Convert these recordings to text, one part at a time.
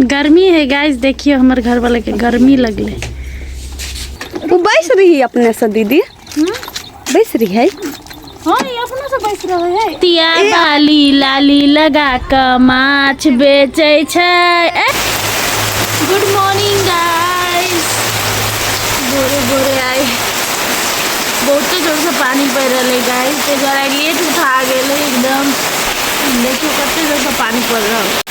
गर्मी है गाइस देखिए हमर घर वाले के गर्मी लगले वो बैस रही है अपने से दीदी बैस रही है हाँ ये अपना से बैस रहे है तिया बाली लाली लगा क माछ बेचे छै गुड मॉर्निंग गाइस भोरे भोरे आए बहुते जोर से पानी पड़ रहा है गाइस तो जरा लेट उठा गेल एकदम देखियो कते जोर से पानी पड़ रहा है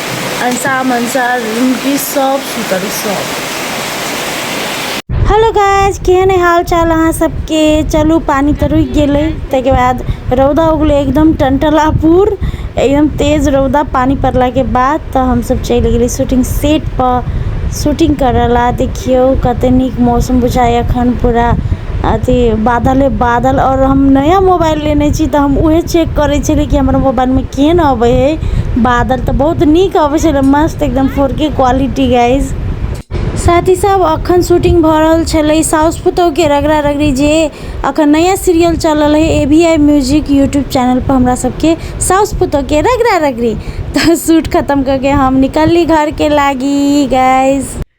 ऐसा मनसा रुकी सब सुतल सब हेलो गाइज केहन है हाल चाल अहाँ सबके चलू पानी तऽ रुकि गेलै ताहिके बाद रौदा उगलै एकदम टनटलापुर एकदम तेज रौदा पानी पड़लाके बाद तऽ हमसब चलि गेली शूटिंग सेट पर शूटिंग करऽ ला देखियौ कते नीक मौसम बुझाइया अखन पूरा अथी बादले बादल आओर हम नया मोबाइल लेने छी तऽ हम उहे चेक करै छलियै कि हमर मोबाइलमे केहन अबै है बादल तऽ बहुत नीक अबै छलै मस्त एकदम फोर के क्वालिटी गाइज साथ ही साथ अखन शूटिंग भऽ रहल छलै साउस पुतोहके रगड़ा रगड़ी जे अखन नया सीरियल चल रहल है A V I music YouTube channel पर हमरा सबके साउस पुतोहके रगड़ा रगड़ी तऽ शूट खतम करके हम निकलली घरके लागी गाइज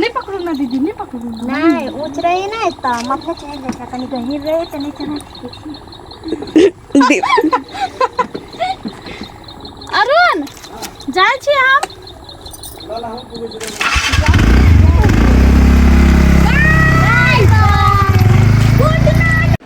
नहि पकड़ू ने दीदी नहि पकड़ू नहि ऊँच रहै ने तऽ माथा चढ़ि जाइ छै कनि गहीर रहै तऽ नहि चढ़ै अरुण जाइ छी हम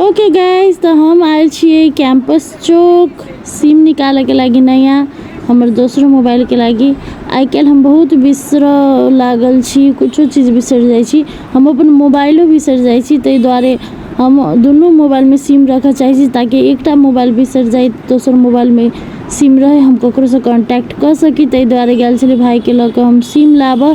ओके गाइज तऽ हम आयल छियै कैंपस चौक सिम निकालैके लागि नया हमर दोसरो मोबाइलके लागि आइ काल्हि हम बहुत बिसरऽ लागल छी कुछो चीज बिसरि जाइ छी हम अपन मोबाइलो बिसरि जाइ छी ताहि दुआरे हम दुनू मोबाइलमे सिम रखऽ चाहै छी ताकि एकटा मोबाइल बिसरि जाइ दोसर मोबाइलमे सिम रहै हम ककरोसँ कॉन्टैक्ट कऽ सकी ताहि दुआरे गेल छलियै भायके लऽ कऽ हम सिम लाबऽ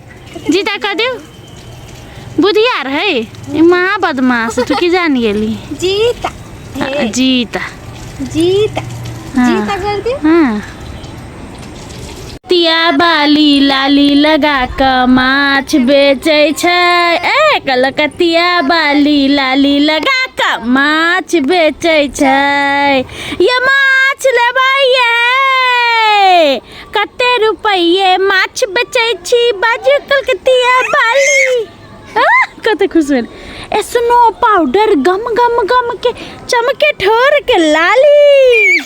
जीता कह दियो बुधियार है ई महा बदमाश तू की जान गेली जीता आ, जीता जीता हाँ। जीता कर दी हाँ तिया बाली लाली लगा क माछ बेचै छै ए कलकतिया बाली लाली लगा क माछ बेचै छै ये माछ लेबै ये कते रुपये माछ बेचै छी बाजू कलकतिया बाली आ, कते खुश भेल ए स्नो पाउडर गम गम गम के चमके ठोर के लाली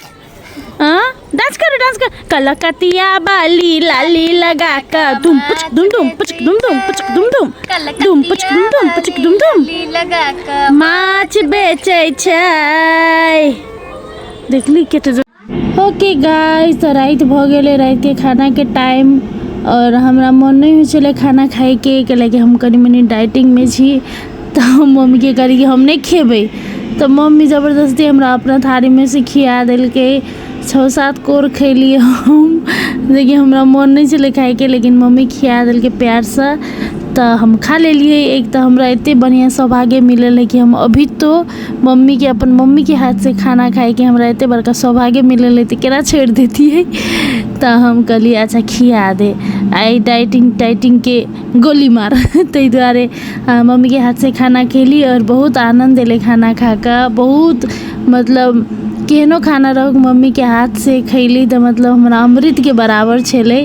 हाँ डांस करो डांस करो कलकतिया बाली लाली लगा का दुम पुच दुम दुम पुच दुम दुम पुच दुम दुम दुम पुच दुम दुम पुच दुम दुम लगा कर माछ बेचै छै देखली केते ओके गाइस तऽ राति भऽ गेलै रातिके खानाके टाइम आओर हमरा मोन नहि होइ छलै खाना खाइके कैलाकि हम कनि मनि डाइटिंगमे छी तऽ हम मम्मीके कहलियै कि हम नहि खेबै तऽ मम्मी जबरदस्ती हमरा अपना थारीमे से खिया देलकै छओ सात कोर खैलियै हम जेकि हमरा मोन नहि छलै खाइके लेकिन मम्मी खिया देलकै प्यारसँ तऽ हम खा लेलियै एक तऽ हमरा एते बढ़िआँ सौभाग्य मिलल हँ कि हम अभी तो मम्मीके अपन मम्मीके हाथसँ खाना खाइके हमरा एते बड़का सौभाग्य मिलल है तऽ केना छोड़ि देतियै तऽ हम कहलियै अच्छा खिया दे आइ डाइटिंग टाइटिंगके गोली मार ताहि दुआरे मम्मीके हाथसँ खाना खेली आओर बहुत आनन्द एलै खाना खा कऽ बहुत मतलब केहनो खाना रहौक मम्मीके हाथसँ खयली तऽ मतलब हमरा अमृतके बराबर छलै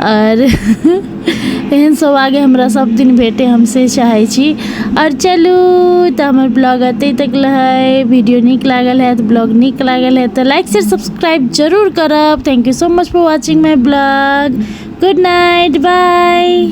आओर एहन सौभाग्य हमरा सब दिन भेटै हम से चाहै छी आओर चलू तऽ हमर ब्लॉग एतै तक रहै वीडियो नीक लागल हैत ब्लॉग नीक लागल हैत तऽ लाइक शेयर सब्सक्राइब जरूर करब thank you so much for watching my blog good night by